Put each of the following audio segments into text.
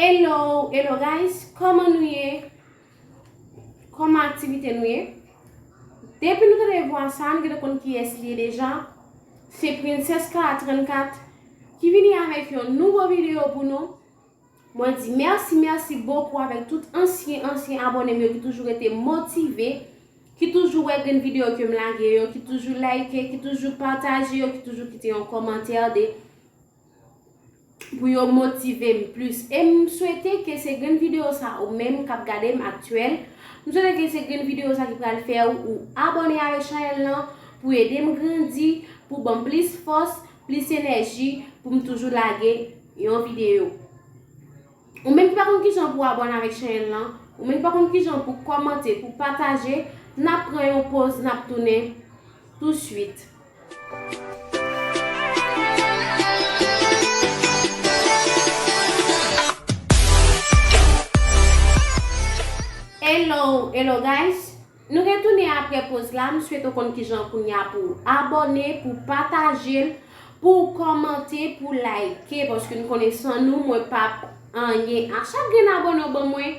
Hello hello guys koman nou ye koman aktivite nou ye depi nou tande vwa sa nou gete konn kiyes liye deja se princess kara 34 ki vini avèk yon nouvo video pou nou Mwen di merci merci beaucoup avèk tout ansyen ansyen abònem yo ki toujou rete motive, ki toujou wè grenn video kem lage yo, ki toujou like, ki toujou pataje yo, ki toujou kite yon kòmantè de pou yo motivem plis. E m swete ke se grenn video sa ou menm kap gadem aktyèl, m swete ke se grenn video sa ki pral fè ou abòne avèk chanèl lan pou edem grandi, pou banm plis fòs. Plis enèji pou m toujou lage yon videyo. Ou menm ki pa konn kijan pou abòne avèk chènèl lan, ou menm ki pa konn kijan pou kòmante, pou pataje, n ap pran yon poz n ap tounen tou suit. Hello hello guys Nou retounen aprè poz la m swete w konn kijan kounya pou w abòne pou w pataje l pou w kòmante pou w like paske m konnen san nou mwen pap anyen a chak grenn abòne w ban mwen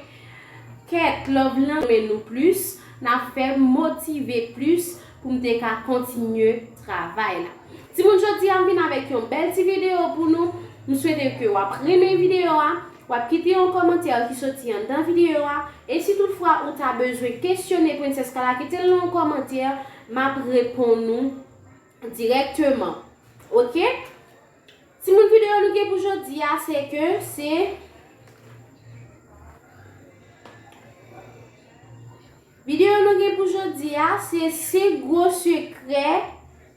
kèt love lan renmen nou plis n ap fè m motive plis pou m te ka kontinye travay la timoun jodi a m vin avèk yon bèl ti videyo pou nou m swete ke w ap renmen videyo a. Wap kite yon kòmantè ki soti anndan videyo a, e si tout fwa ou ta bezwen kesyone Princess Kala kite l nan yon kòmantè map reponn ou dirèkteman ok Timoun videyo nou gen pou jodi a se ke se. Video nou gen pou jodi a se 5 gwo sekrè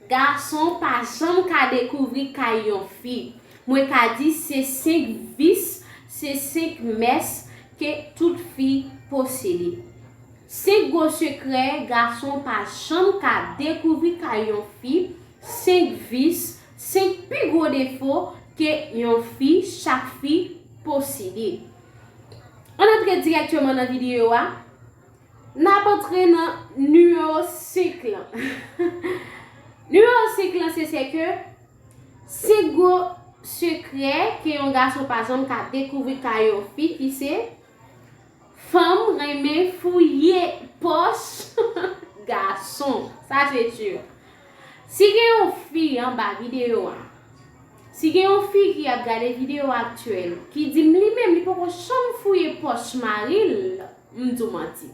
gason pa janm ka dekouvri kay yon fi. Mwen ka di se 5 vis, se 5 mès ke tout fi posede. 5 gwo sekrè gason pa janm ka dekouvri kay yon fi, 5 vis, 5 pi gwo defo ke yon fi, chak fi, posede. Ann antre direkteman nan videyo a. N ap antre nan nimewo 5 lan. Nimewo 5 lan se se ke 5 gwo sekrè ke yon gason pa janm ka dekouvri kay yon fi ki se fanm renmen fouye pòch gason. Sa se sur. Si gen yon fi anba videyo a. Si gen yon fi ki ap gade video aktyèl ki di m li menm li poko janm fouye pòch mari l m di w manti.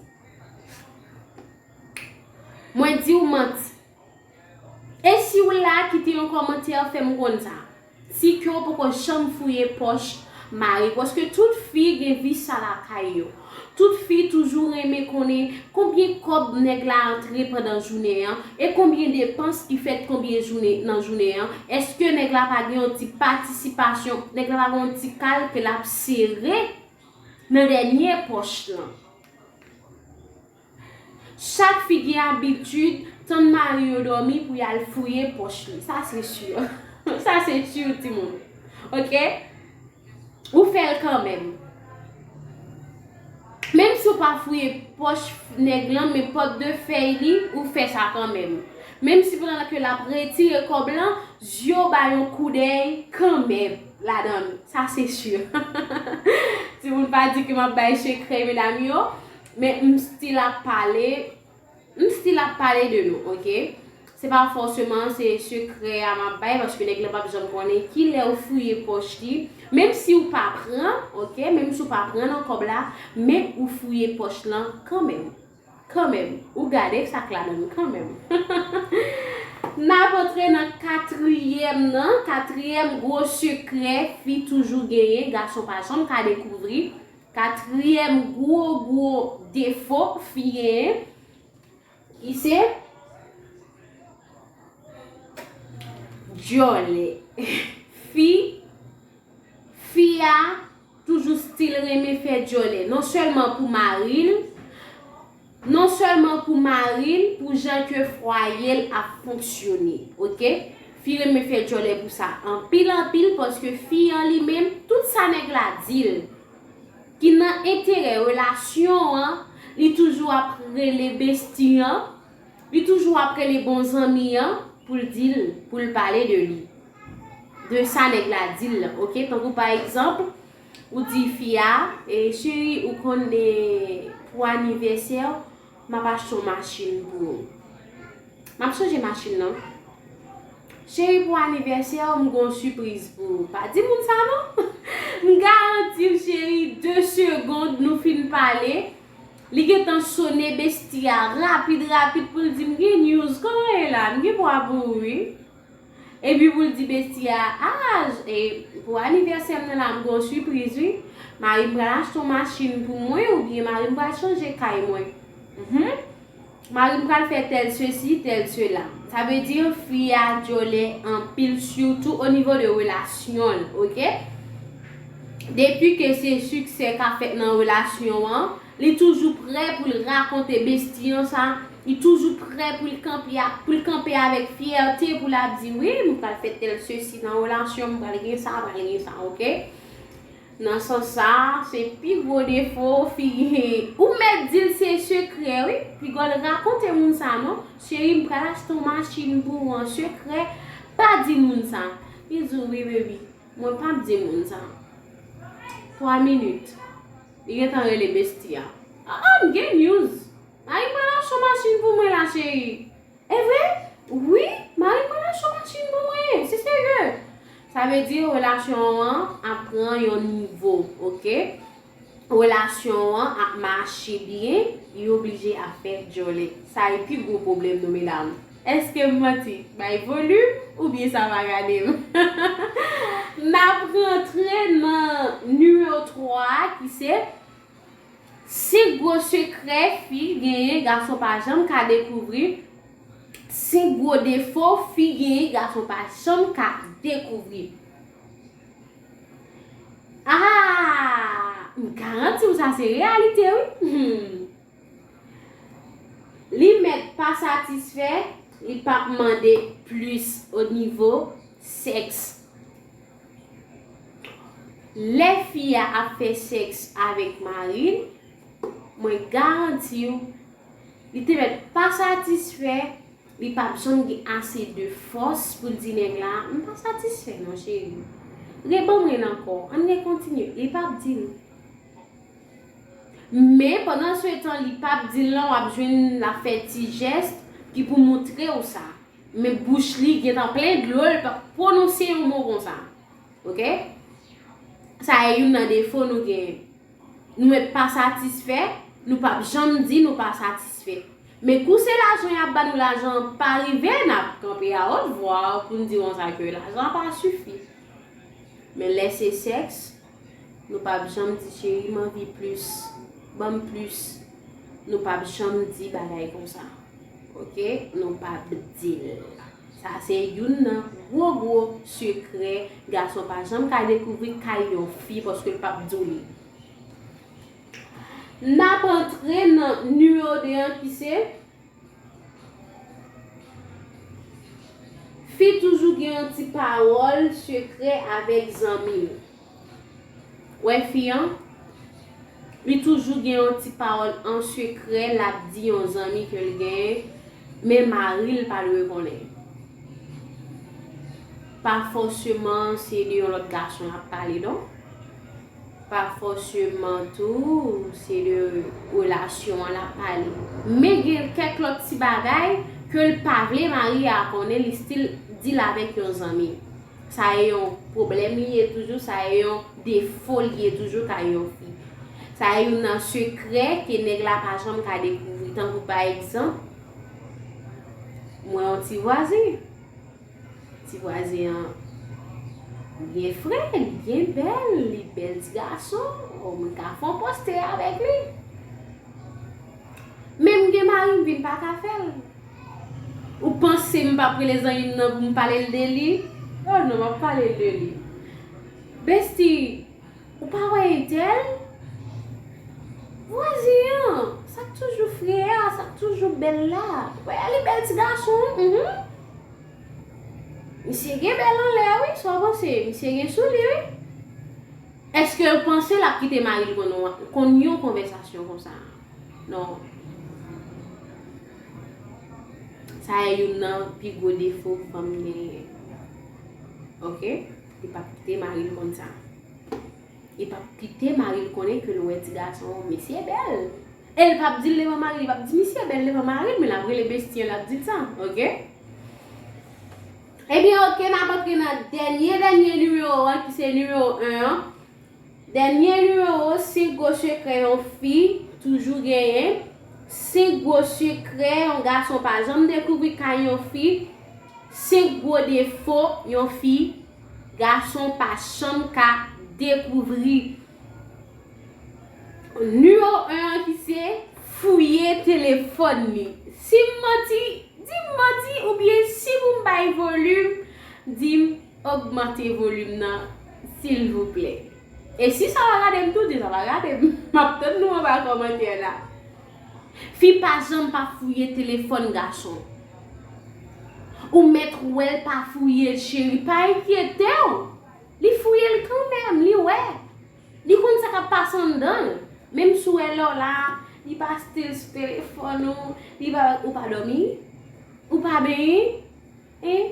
Mwen di w manti. E si w la kite yon kòmantè fè m konn sa. Si ke w poko janm fouye pòch mari paske tout fi gen vi sa lakay yo. Tout fi toujou renmen konnen konbyen kòb nèg la antre pandan jounen an e konbyen depans ki fèt konbyen jounen nan jounen an eske nèg la pa gen yon ti patisipasyon nèg la pa gen yon ti kal ke lap sere nan dènye pòch lan. Chak fi gen abitid tann mari yo domi pou yal fouye poch li sa se sur sa se sur ti moun ok ou fel kanmenm menm si ou pa fouye poch neg lan men pot de fey li ou fe sa kanmenm menm si pandan ke lap retire kob lan zye ou bay yon kou dey kanmenm ladann sa se sur ti moun pa di ke map bay sekre medam yo. Men m still ap pale M still ap pale de nou ok Se pa fòseman se sekrè a map bay paske nèg lan pap janm konnen ki lè ou fouye pòch li Menm si ou pa pran ok Menm si ou pa pran nan kòb la Men ou fouye pòch lan kanmenm Kanmenm Ou gade sak la menm kanmenm Nap antre nan katriyèm nan Katriyèm gwo sekrè fi toujou genyen gason pa janm ka dekouvri Katriyèm gwo gwo defo fi genyen ki se dyòlè. Fi fi a toujou stil renmen fè dyòlè non sèlman pou mari l. Non sèlman pou maril pou jan ke fwayel ap fonksyone ok fi renmen fè djòlè pou sa anpil anpil paske fi an li menm tout sa nèg la dil ki nan enterè relasyon an li toujou ap rele besti an li toujou ap rele bon zanmi an poul dil poul pale de li de sa nèg la dil lan ok tankou pa egzanp Ou di fi a, cheri ou konn pou anivèsè w map achte yon machin pou ou. Map chanje machin nan. Cheri pou anivèsè w m gen yon sipriz pou ou. Pa di moun sa non. M garanti w cheri 2 segond nou fin pale, li gentan sone besti a rapid rapid pou l di m gen news, kòman ye la? M gen pwa pou ou wi. Epi pou l di besti a, Aaz, e pou anivèsè m nan la m gen yon sipriz wi. Mari m pral achte yon machin pou mwen oubyen mari m pral chanje kay mwen. Hum! Mari m pral fè tèl sesi, tèl sela. Sa vle di fi a dyòlè anpil sitou onivo de relasyon l, oke. Depi ke se siksè k ap fèt nan relasyon an. Li toujou prè pou l rakonte besti an sa, li toujou prè pou l kanpe a, pou l kanpe avèk fyète pou l ap di wi m pral fè tèl sesi nan relasyon m pral gen sa pral gen sa ok. Nan sans sa se pi gwo defo fi ou mèt di l se sekrè wi piga w rakonte moun sa non cheri m pral achte yon machin pou ou an sekrè pa di moun sa li di w wi bebi mwen pap di moun sa 3 minit. Li gentan rele bestie a. Aa m gen news Mari mwen ap achte yon machin pou mwen la cheri Evre wi Mari mwen ap achte yon machin pou mwen se serye Sa vle di relasyon an ap pran yon nivo ok Relasyon an ap mache byen yo blije ap fè djòlè Sa e pi gwo pwoblèm nou medam. Eskem manti bay volume ou byen sa pa gadem nap rantre nan numero 3 a ki se si gwo sekrè fi genyen gason pa janm ka dekouvri si gwo defo fi genyen gason pa janm ka dekouvri aah m garantiw sa se reyalite wi humm. Li mèt pa satisfè, li pa p mande plis o nivo sèks. Lè fi a ap fè sèks avèk mari l, mwen garanti w, li te mèt pa satisfè, li pa p janm gen ase de fòs pou l di nèg la, m pa satisfè non cheri. Reban mwen ankò, an n rekontinye. Li pa p di l. Men pandan se tan li pap dil lan wap jwenn lap fè ti jès ki pou moutrew sa men bouch li gentan plen dlo li pap pwononse yon mo konsa ok sa e youn nan defo nou genyen nou met pa satisfè nou pap janm di nou pa satisfè men kou se lajan yap ba nou lajan pa rive nap kanpe a ot vwa poun di konsa ke lajan pa sifi men lè se sèks Nou pap janm di cheri m anvi plis banm plis nou pap janm di bagay konsa ok nou pap dil sa se youn nan gwo gwo sekrè gason pa janm ka dekouvri kay yon fi paske l pap diw li Nap antre nan numero 2 an ki se. Fi toujou gen yon ti pawòl sekrè avèk zanmi l. Ou wè fi an? Li toujou gen yon ti pawòl an sekrè l ap di yon zanmi ke l genyen, men mari l pa dwe konnen. Pa fòseman se de yon lòt gason l ap pale non. Pa fòseman tou se de relasyon an lap pale. Men gen kèk lòt ti bagay ke l pa vle mari a konnen li stil di l avèk yon zanmi. Sa e yon pwoblèm li ye toujou, sa e yon defo li ye toujou kay yon fi. Sa e youn nan sekrè ke nèg la pa janm ka dekouvri. Tankou pa egzanp, mwen yon ti vwazen. Ti vwazen an byen fre, li byen bèl, li bèl ti gason, oh mwen ka fon poste avèk li. Menm gen mari m vin pa ka fè l. Ou panse m pap rele zanmi m nan pou m pale l de li? Oh non map pale l de li. Besti! Ou pa wè Ethel? Vwazin an! Sak toujou fre a, sak toujou bèl la. Wè li bèl ti gason wi, uhmm. Misye gen bèl anlè wi, sa w panse? Misye gen sou li wi. Eske w panse l ap kite mari l konn yon konvèsasyon konsa? Non. Sa e youn nan pi gwo defo fanm genyen. Ok. Li pap kite mari l konn sa. Li pap kite mari l konnen ke l wè ti gason an misye bèl. E l pap di l devan mari l. Li pap di misye bèl devan mari l men l ap rele bestie l l ap di l sa. Ok? Ebyen ok n ap antre nan dènye dènye nimewo an ki se nimewo 1 an. Dènye nimewo 5 gwo sekrè yon fi toujou genyen 5 gwo sekrè yon gason pa janm dekouvri kay yon fi 5 gwo defo yon fi gason pa chanm ka dekouvri Nimewo 1 an ki se. Fouye telefòn li Si m manti, di m manti oubyen si pou m bay volim, di m. Ogmante volume nan silvouplè. E si sa pa gadem tou di sa pa gadem. Map tann nou anba komantè la. Fi pa janm pa fouye telefòn gason. Ou mèt wèl pa fouyel cheri pa enkyetew. Li fouyel kanmenm li wè. Li konn sa kap pase anndanl. Menm si ou wè lèw la li pa still sou telefòn ou, li pa ou pa domi, ou pa benyen, Hein?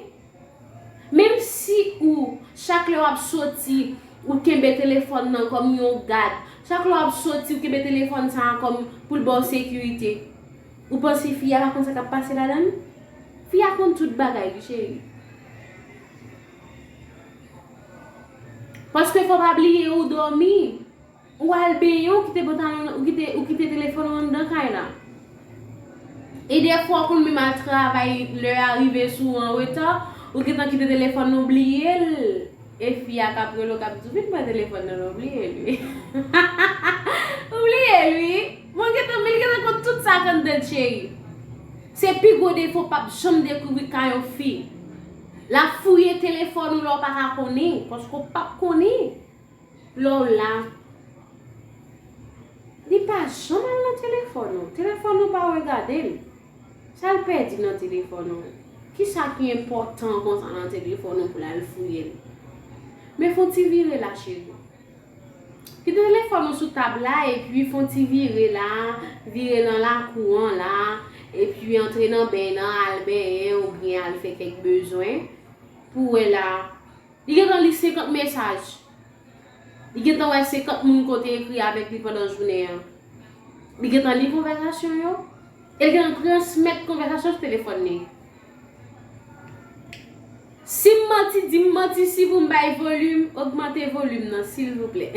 Menm si ou chak lè wap soti ou kenbe telefòn nan kòm yon gad, chak lè wap soti ou kenbe telefòn sa a kòm poul baw sekirite, ou panse fi a pa konn sa kap pase ladann? Fi a konn tout bagay wi cheri. Paske fò pa bliye ou dòmi. Ou al benyen ou kite pantalon ou kite ou kite telefòn ou anndan kay la. E dèfwa ou konn menm al travay lè a rive sou ou anreta, ou gentan kite telefòn nan ou bliyel e fi a kap rele w kap di w vin pran telefòn nan la ou bliyel ui ou bliyel ui bon gentan menl gentan konn tout sa k anndanl cheri se pi gwo defo pap janm dekouvri kay yon fi lap fouye telefòn ou lè w paka konnen paske w pap konnen. Lè w la, li pa janm al nan telefòn ou. Telefòn ou pa wè gade l. Sa l pèdi nan telefòn ou? Ki sa ki enpòtan konsa nan telefòn ou pou l al fouye l? Men fon ti vire la cheri. Kite telefòn ou sou tab la epi fon ti vire la, vire nan lakou an la, epi antre nan beny nan al benyen oubyen al fè kèk bezwen pou wè la Li gentan li 50 mesaj. Li gentan wè 50 moun ke w te ekri avèk li pandan jounen an. Li gentan li konvèsasyon yo. E li gentan transmèt konvèsasyon sou telefòn li. Si m manti, di m manti si pou m bay volim, ogmante volim nan silvouplè.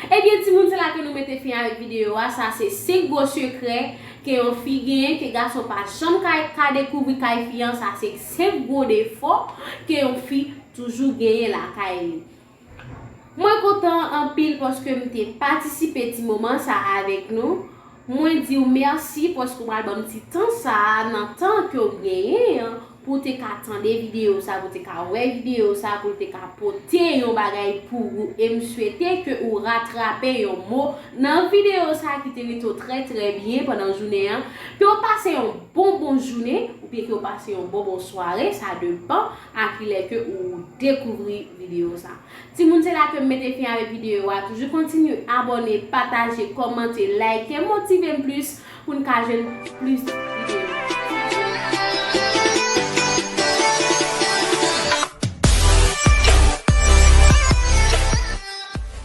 Ebyen timoun se la ke nou mete fen avèk videyo a, sa se 5 gwo sekrè ke yon fi genyen ke gason pa janm ka ka dekouvri kay fi an, sa se 5 gwo defo ke yon fi toujou genyen lakay li. Mwen kontan anpil paske m te patisipe ti moman sa avèk nou. Mwen di w mèsi paske w pral ban m ti tan sa a nan tan ke w genyen an pou w te ka tande videyo sa a, pou w te ka wè videyo sa a, pou l te ka pote yon bagay pou ou. E m swete ke ou ratrape yon mo nan videyo sa a ki te rete w trè trè byen pandan jounen an. Ke w pase yon bon bon jounen oubyen ke w pase yon bon bon sware, sa depan a kilè ke ou dekouvri videyo sa a. Timoun se la kem mete fin avek video a toujou kontinye abone pataje komante like motivem plis poun ka jwenn plis video.